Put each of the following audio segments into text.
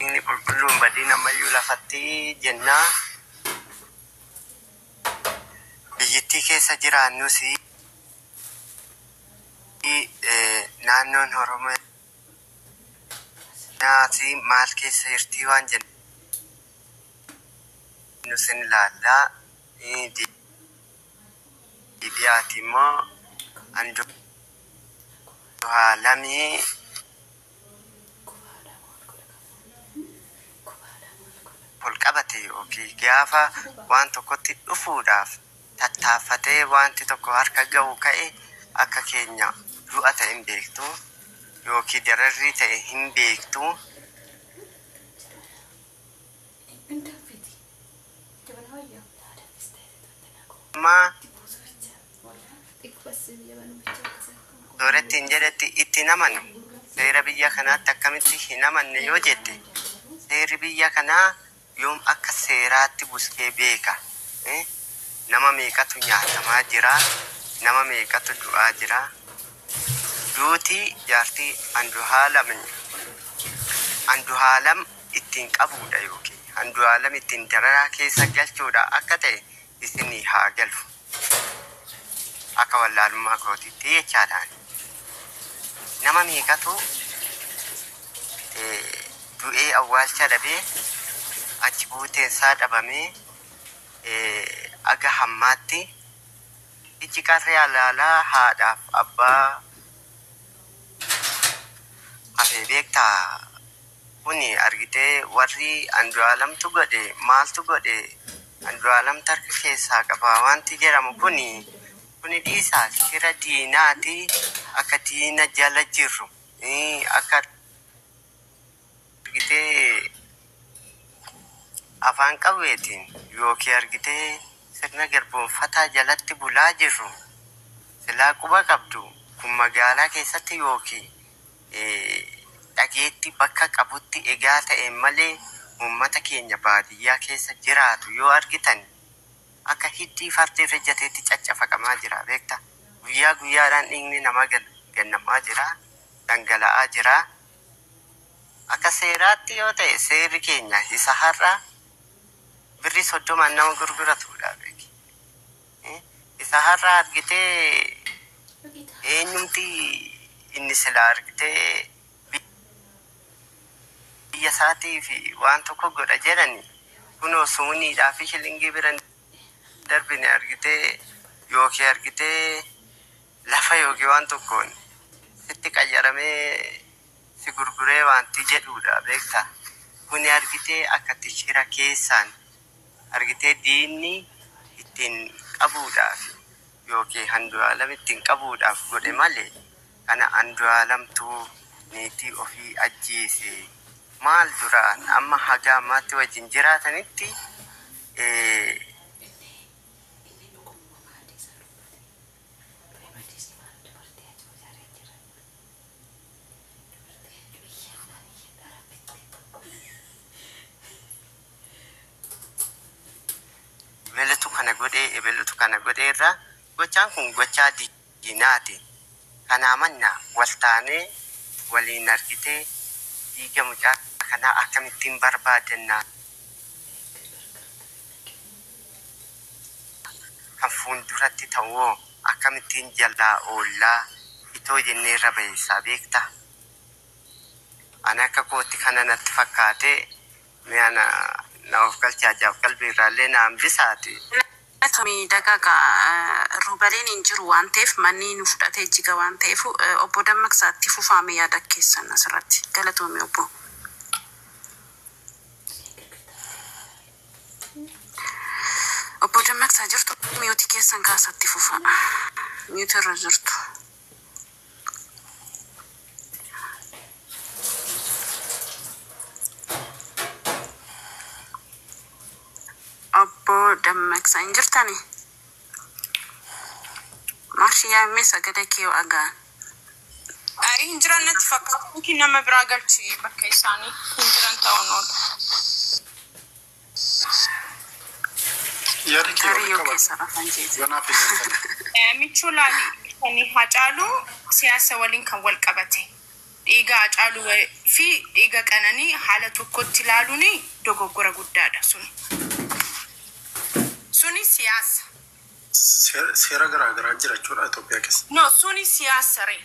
Inni qulqulluu hin badin amma iyyuu lafatti jenna. Biyyittii keessa jiraannus naannoon Oromiyaas maal keessa jirtii waan jennus in ilaalla. Deebi'aati immoo Anduhaalami ol qabate ykn gaafa waan tokkotti dhufuudhaaf tattaaffatee waanti tokko harka ga'u ka'e akka keenya du'a ta'e hin beektu ykn dararrii ta'e hin beektu. Dhibbin danfiti. Jabana wayya. Naa danfista isi tolta naa koo. Maa. Dibuusu bicha. Walaa. Xiqqoo assi biyya banu bicha akkasa. Dooretti hin jedhetti itti hin amanu. Seera biyya kanaatti akkamitti hin amanne yoo jette seerri biyya kanaa yoom akka seeraatti busee beeka e nama meeqatu nyaatamaa jira nama meeqatu du'aa jira duuti jaartii anduhaalam anduhaalam ittiin qabuudha ykn Andu'aalam ittiin dararaa keessa galchuudha akka ta'e isinii haa galu. Akka wallaalummaa kootiitti jechaadha ani. Nama meeqatu du'ee awwaalcha dhabee achi buuteen isaa dhabamee aga hammaatti ijji qarree alaalaa haadhaaf abbaa hafee beektaa? Kuni argitee warri Andualamtu godhe maaltu godhe Andualam tarka keessaa qaba waanti jeramu kuni kuni dhiisaa shira diinaati akka diina jala jirru akka argitee afaan qawweetiin yookiin argitee sirna garboomfataa jalatti bulaa jirru silaa quba qabdu kun magaalaa keessatti yookiin dhageetti bakka qabutti egaa ta'e malee ummata keenya baadiyyaa keessa jiraatu yoo argitan akka hiddii farda irra jateetti caccafaqamaa jira beekta guyyaa guyyaadhaan dhiigni namaa gad gannamaa jira dhangala'aa jira akka seeraatti yoo ta'e seerri keenya isa har'a birrii soddomaan nama gurguratuudha beeki. Isa har'a argite eenyumti inni silaa argitee biyya isaatiif waan tokko godha jedhani kunoo sumuniidhaa fi shilingii bira hin darbine argitee yookiin argitee lafa yookiin waan tokkoon sitti qayyaramee si gurguree waanti jedhuudha beektaa kuni argitee akkatti shira keessaan argitee diinni ittiin qabuudhaaf ykn Andu'aalam ittiin qabuudhaaf godhe malee kana Andu'aalamtu niitii ofii ajjeese maal duraan amma haga ammaatti wajjin jiraatanitti ebelutu kana godhee ebelutu kana godhee irraa gochaan kun gochaa diinaati kanaa mannaa wal taanee waliin argitee dhiiga mucaa kanaa akkamittiin barbaadanna kan fuulduratti ta'u hoo akkamittiin jalaa oollaa itoo jennee irra bayeessaa beektaa? Ani akka kootti kana natti fakkaatee Mee ana na of galchi hajjaaf qalbii irraa illee na hambisaati. Galatomii dagaga rubaliin hin jiru waan ta'eef mannii nu fudhatee jiga waan ta'eefu obbo dammaqsa itti fufaa mee yaada keessan asirratti galatoomii obbo. Obbo dammaqsa jirtu mute keessan kaasa itti fufaa mute irra jirtu. Obbo Dammaqsa hin jirtani? Marshi yaa mee sagada kee yoo agaan. Ayi hin jiran natti fakkaata. Yookiin nama biraa galchi bakka isaanii hin jiran ta'uun oolu. Kariyyoo keessa afaan jeete. Michuu laali kan Hacaaluu siyaasa waliin kan wal qabate dhiiga Hacaaluu wa- fi dhiiga Qananii haala tokkotti ilaaluun dogoggora guddaadha sun. Suni siyaasa. Seera garaa garaa jira jechuudha Itoophiyaa keessa. No, suni siyaasa ree.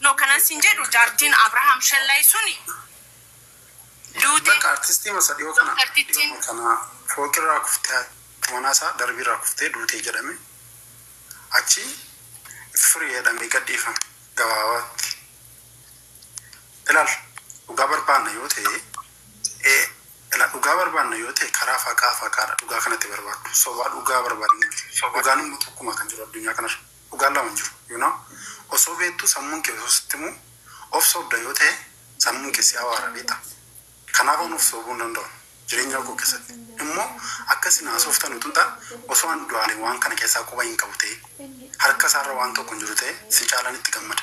No kanan sin jedhu jaartiin Abraham Shellay suni duute. Bakka artistii masa dhiyoo kana dhiyooma kana fooqirraa kuftee haati manaa isaa darbiirraa kuftee duute jedhame achi free jedhamee gad dhiifame gabaabaatti ilaal dhugaa barbaanna yoo ta'e ee ilaal dhugaa barbaanna yoo ta'e karaa faqaa faqaadha dhugaa kanatti barbaaddu sobaa dhugaa barbaadnu dhugaan immoo tokkuma kan jiru addunyaa kanarra. Dhugaan lama hin jiru you know osoo beektuu sammuun kee osoo sitti himuu of sobda yoo ta'e sammuun kee si abaara beektaa kanaaf an of soobuu hin danda'u jireenyaa koo keessatti immoo akka isin haasooftan utuu ta'e osoo an du'aalee waan kana keessaa quba hin qabu ta'ee harka isaarra waan tokko hin jiru ta'e si caalan itti gammada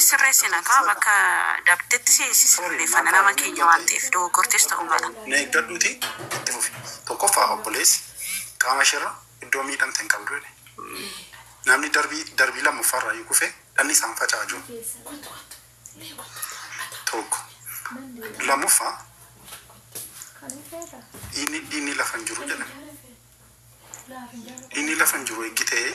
Sirreessina kaa bakka dabdetti si sirreeffanna nama keenya waan ta'eef dogoggortees ta'uu mala. Na eeggadhuutii itti fufi. Tokkoffaa obboleessi qaama isheerra iddoo miidhamte hin qabdu jedhe. Namni darbii darbii lammaffaarraayyuu kufee dhanni isaan faca'aa jiru tokko. Lammaffaa dhiigni dhiigni lafa hin jiru jedhame. Dhiigni lafa hin jiru eeggi ta'ee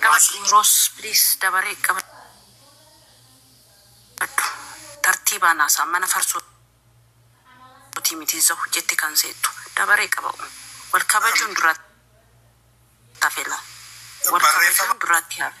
Nama siin jedhu. Rose please dabaree qabadhu tartiibaan haasa'a mana farsootii miti zaw jette kan seettu dabaree qaba'u wal kabajuun duraatti hafe laa wal kabajuun duraatti hafe.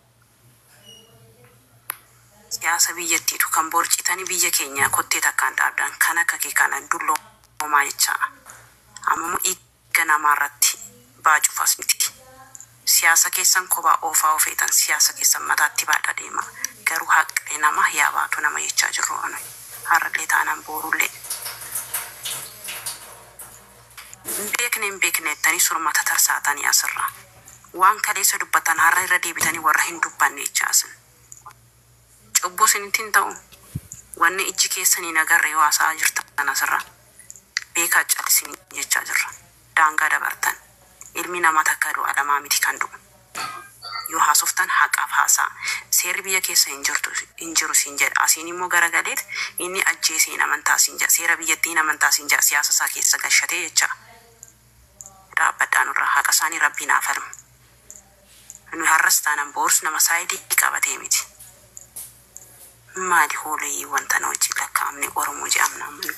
siyaasa biyyattiitu kan borcitani biyya keenya kottee takkaan dhaabdan kan akka kee kana dulloomaa jechaa amamo dhiigga namaa irratti baacuuf as miti siyaasa keessan kobaa oofaa yoo feetan siyaasa keessan mataatti baadha deema garuu haqni nama yaa baatu nama jechaa jirruu nuyi har'allee taanan boorullee. Hin beekne hin beekne jettanii surma tatarsaatanii asirra. Waan kaleessa dubbattan har'a irra deebitanii warra hin dubbanne jechaa isin. Cubbuu isinitti hin ta'u? Wanni ijji keessan hin agarre yoo haasa'aa jirtan asirra beekaa cal isinii jechaa jirra. Daangaa dabartan. Ilmi namaa takkaa du'a lamaa miti kan du'u. Yoo haasoftan haqaaf haasa'a. Seerri biyya keessa hin jirtu, hin jiru siin jedha. Asiin immoo garagaleet inni ajjeese hin amantaa siin jedha. Seera biyyattii hin amantaa siin jedha. Siyaasa isaa keessa gashatee jecha. Dhaabbadhaa nurraa. Haqa isaanii Rabbiin haa falmu. Nuyi har'as taanan boorus nama side qabatee miti. Maali hooleyii wanta na wajjin lakkaa'amne Oromoo je'amna amma nuyi.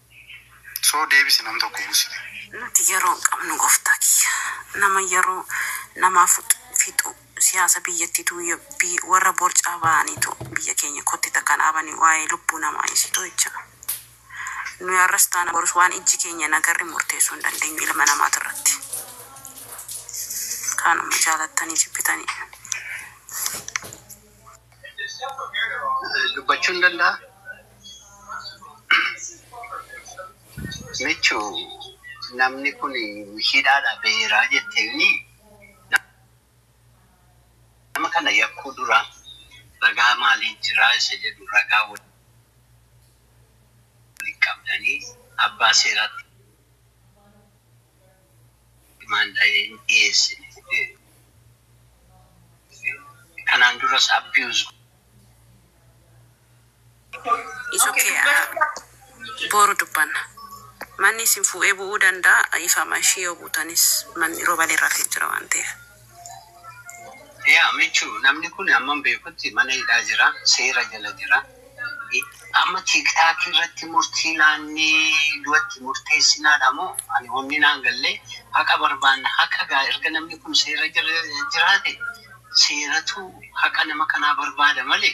So deebisi nam tokko busite. Nuti yeroo hin qabnu goftaa kiyya nama yeroo namaa fixu siyaasa biyyattitu yabbii warra borcaa ba'anitu biyya keenya kotte takka hin dhaabani waa'ee lubbuu namaa dhisii too'ichaa nuyi har'as taana borus waan ijji keenya hin agarre murteessuu hin dandeenyu ilma namaatirratti kaanuma jaalattanii jibbitanii dubbachuu hin danda'a. Michu namni kun hidhaadha beera jette inni nama kana yakkuu dura ragaa maalii jira isa jedhu ragaa waliin qabdanii abbaa seeraatti Imaandaayee hin dhiyeessine jedhee kanaan duras abuse. It's ok boru dubbanna. Manni isin fuudhee bu'uu danda'a dhiifama ishii yoo buutanis manni roobale irra jira waan ta'eef. Yaa michu namni kun amman beekutti mana hidhaa jira seera jala jira amma tiktaakii irratti murtii laannee du'atti murteessinaadha moo ani wonni naan gallee haqa barbaanna haqa gaa erga namni kun seera jala jiraate seeratu haqa nama kanaa barbaada malee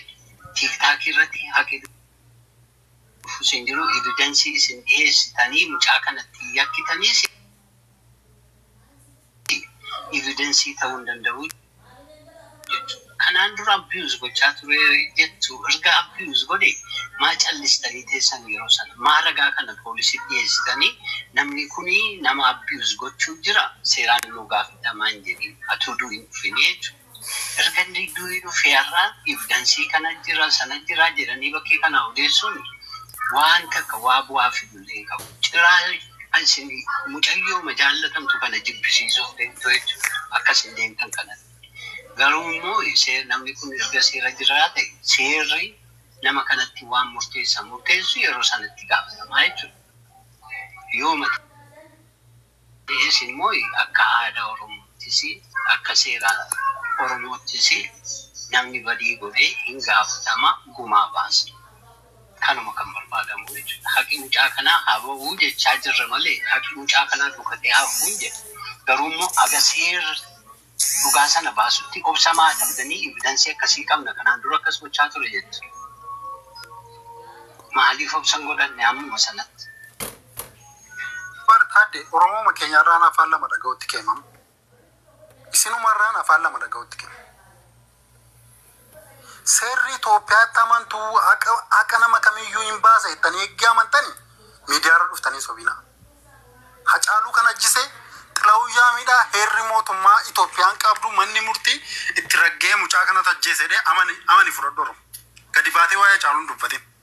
tiktaakii irratti haqi dhufu sin jiru evidansii isin dhiyeessitanii mucaa kanatti yakkitaniis evidence ta'uu hin danda'u jechuudha. Kanaan dura abuse gochaa ture jettu erga abuse godhe maa callistanii teessan yeroo sana? Maa ragaa kana poolisitti dhiyeessitanii namni kuni nama abuse gochuu jira seeraan immoo gaafatamaa hin jedhin atuu du hin dhufini jechuudha. Erga inni du'ee dhufee har'a evidence kana jira sana jira jedhanii bakkee kanaa odeessuun waan takka waa bu'aa fidu illee hin qabu. Ciraa isin mucayyooma jaallatamtu kana jibbisiisuuf deemtu jechuudha akka isin deemtan kanatti. Garuu immoo namni kun erga seera jiraate seerri nama kanatti waan murteessan murteessu yeroo sana itti gaafatamaa jechuudha. Yooma ta'e. Kunis immoo akka aadaa Oromoottis, akka seera Oromoottis namni badii godhe hin gaafatama, gumaa baasa. Kanuma kan barbaadamu jechuudha. Haqi mucaa kanaa haa bahu jechaa jirra malee haqi mucaa kanaa dhokatee haa hafu hin jennu. Garuu immoo haga seerri. Dhugaa sana baasutti obsa maa dhabdanii evidence akkasii qabna kanaan dura akkas gochaa ture jettu maaliif obsa hin godhanne ammuma sanatti. Bar taadde oromooma keenya irraan afaan lama dhaga'utti kee mam isinumarraan afaan lama dhaga'utti kee. Seerri Itoophiyaatti amantu haqa haqa nama kamiiyyuu hin baasa jettanii eggii amantani miidiyaarra dhuftanii sobina. Hacaaluu kan ajjise Xilahuu Yaamiidhaa heerri mootummaa Itoophiyaan qabdu manni murtii itti ragga'ee mucaa kanatu ajjeese jedhee amani amani fudhadhu Oromo. Gadi baatee waa'ee Hacaaluu hin dubbatin.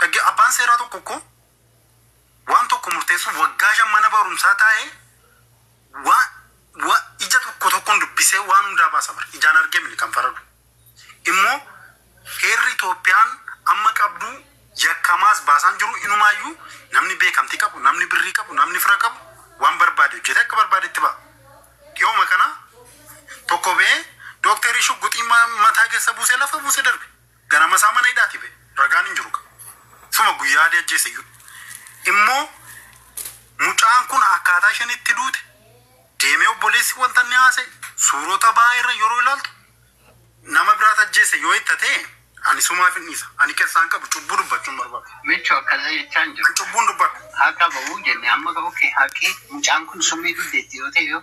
Dhagge, Abbaan seeraa tokko kko waan tokko murteessuuf waggaa shan mana barumsaa taa'ee wa, wa, ija tokko tokkoon dubbisee waan hundaa baasa bar. Ijaan argee miti kan faradu. Immoo heerri Itoophiyaan amma qabdu yakkamaas baasaan jiru inumaayyuu namni beekamtii qabu, namni birrii qabu, namni fira qabu waan barbaade hojjetee akka barbaadetti ba'a. Dhihooma kana tokko ba'ee Dookterii Shugguxii ma, mataa keessa buusee lafa buuse darbe. Ganamasaa mana hidhaatii ba'e. Ragaan hin jiru kaa. Suma guyyaa Alii ajjeese iyyuu. Immoo mucaan kun akkaataa isheen itti duute deemee obboleessi wanta inni haasa'e suurota ba'aa irra yeroo ilaaltu nama biraat ajjeese yoo itti ta'e ani sumaaf hin dhiisa. Ani keessaa hin qabu cubbuu dubbachuu hin barbaadu. Micho akkasii jechaa hin An jiru. cubbuun dubbadha. Haqa ba'uu jenne amma okay haqi mucaan kun summii dugdeetti yoo ta'e yoo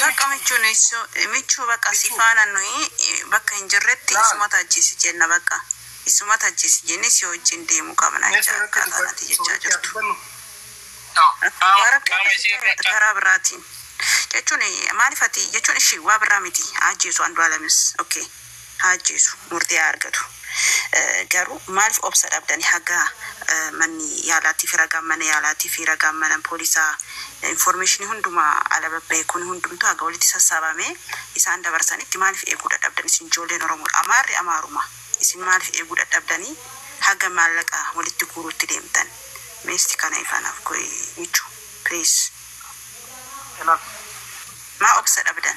Takka michuu nisu michuu bakka si faana nuyi bakka hin jirretti isumata ajjeesi jenna bakka isumata ajjeesi jennee si wajjin deemu qabna jecha akkaataa nati jechaa jirtu karaa biraatiin jechuun maalif ati jechuun ishi waa birraa miti haa ajjeesu Andualem ok. haa ajjeesu murtii haa argatu garuu maalif obsa dhabdani haga manni yaalaatifi ragaan mana yaalaatifi ragaan mana poolisaa informeeshinii hundumaa ala babba'e kun hundumtuu haga walitti sassaabamee isaan dabarsanitti maalif eeguu dadhabdan isin ijoolleen oromoodha amaarri amaaruma isin maalif eeguu dadhabdanii haga maallaqa walitti guuruutti deemtan mee isti kana ifaa naaf go'i michu please Maa obsa dhabdan.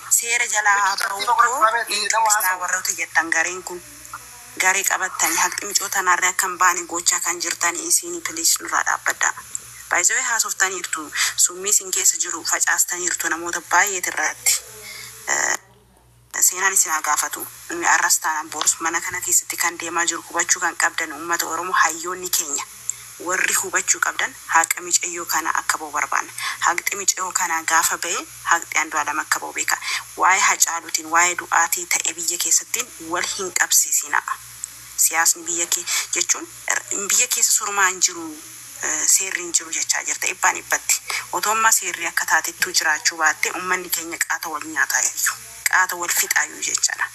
seera jalaa haa bahuu koo hin dubbisnaa warroti jettan gariin kun garee qabattani haqni micoo tanaarri akka hin baane goochaa kan jirtani isiini please nurraa dhaabbadha by the way haasoftaniirtu summii isin keessa jiru facaastaniirtu namoota baay'eet irraatti seenaan isin haa gaafatu inni arras taanan boorus mana kana keessatti kan deemaa jiru hubachuu kan qabdan uummata oromoo hayyoonni keenya warri hubachuu qabdan haqa micayyoo kana akka bahu barbaanna haqxi micayoo kanaa gaafa ba'e Haqxi Andualem akka bahu beeka. Waa'ee Hacaaluutiin, waa'ee du'aatii ta'e biyya keessattiin wal hin qabsiisinaa. Siyaasni biyya kee jechuun biyya keessa surmaa hin jiru, seerri hin jiru jechaa jirta dhibbaan dhibbatti. Otoo ammaa seerri akka taatettuu jiraachuu baattee ummanni keenya qaata wal nyaataayyu, qaata wal fixaayyu jechadha.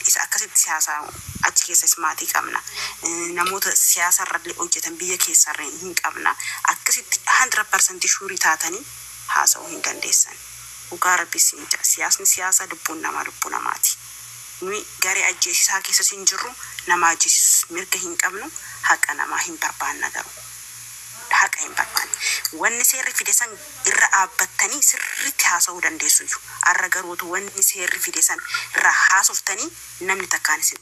Isa akkasitti si haasaayu achi keessas maatii qabna. Namoota siyaasarrallee hojjetan biyya keessarree hin qabna. Akkasitti 100% shuurii taatanii. haasa'uu hin dandeessan dhugaa rabbii siin ja'a siyaasni siyaasa lubbuun namaa lubbuu namaati nuyi garee ajjeesisaa keessas hin jirru nama ajjeesisus mirga hin qabnu haqa namaa hin barbaanna garuu haqa hin barbaanne wanni seerri fide san irra dhaabbattanii sirriitti haasa'uu dandeessuyyu arra garuu otuu wanni seerri fide san irraa haasoftanii namni takkaan isin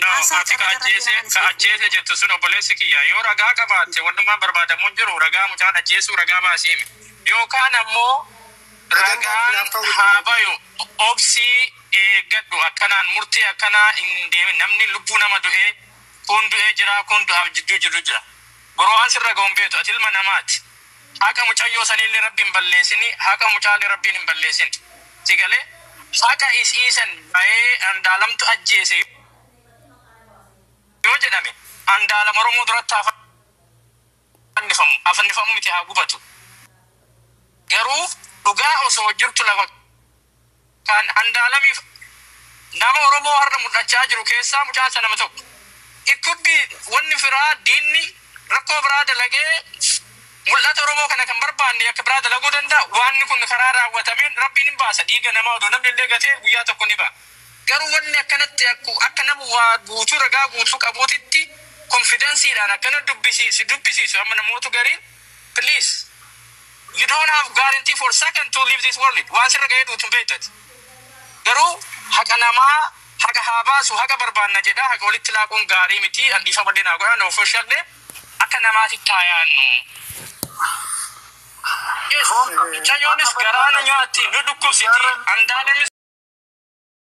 No, Haasaa ati ka carra darra ajjeese, keeraan ka isiniif ajjeese deebi'a. jettu sun obboleessi kiyya, yoo ragaa qabaatte wannummaan barbaadamu hin jiru, ragaa mucaan ajjeesuu ragaa baasi himi. Yookaan ammoo Ragaan baasu ragaan naaf ta'uu hin haa qabu. bayu, obsii eeggadhu, akkanaan murtii akkanaa hin deemin, namni lubbuu nama du'ee, kuun du'ee jira, kuun du'aaf jidduu jiru jira. Bro an sirra ga'u hin beektu, ati ilma namaati. Haqa mucayyoo saniille rabbi hin balleesini haqa mucaalle rabbiin hin balleesin si galee haqa isii san bayee andaalamtu ajjeese yoo jedhame andaalam oromoo duratti haa fannifamu haa fannifamu miti haa gubatu garuu dhugaa osoo jirtu lafa Kan Andaalamiif nama Oromoo har'a mul'achaa jiru keessaa mucaan sana nama tokko. It could be wanni firaa, diinni rakkoo biraa dalagee mul'ata Oromoo kana kan barbaanne yakka biraa dalaguu danda'a. Waanni kun karaa raawwatameen Rabbiin hin baasa. Dhiiga namaa odoo namni illee gatee guyyaa tokko ni ba'a. Garuu wanni akkanatti akku akka nama waa guutuu ragaa guutuu qabuutitti konfidansiidhaan akkana dubbisi si dubbisiisu amma namootu gariin please. You don't have guarantee for second to leave this world. Waan sirra ga'ee duutu hin beektu ati. Garuu haqa namaa haqa haa baasu haqa barbaanna jedha haqa walitti laaquun gaarii miti an dhiifama illee naa godhaa nuuf hoshadhe akka namaatitti haa yaannu. Yes, mucayyoonis garaa nu nyaatti nu dhukkubsiti andaalemis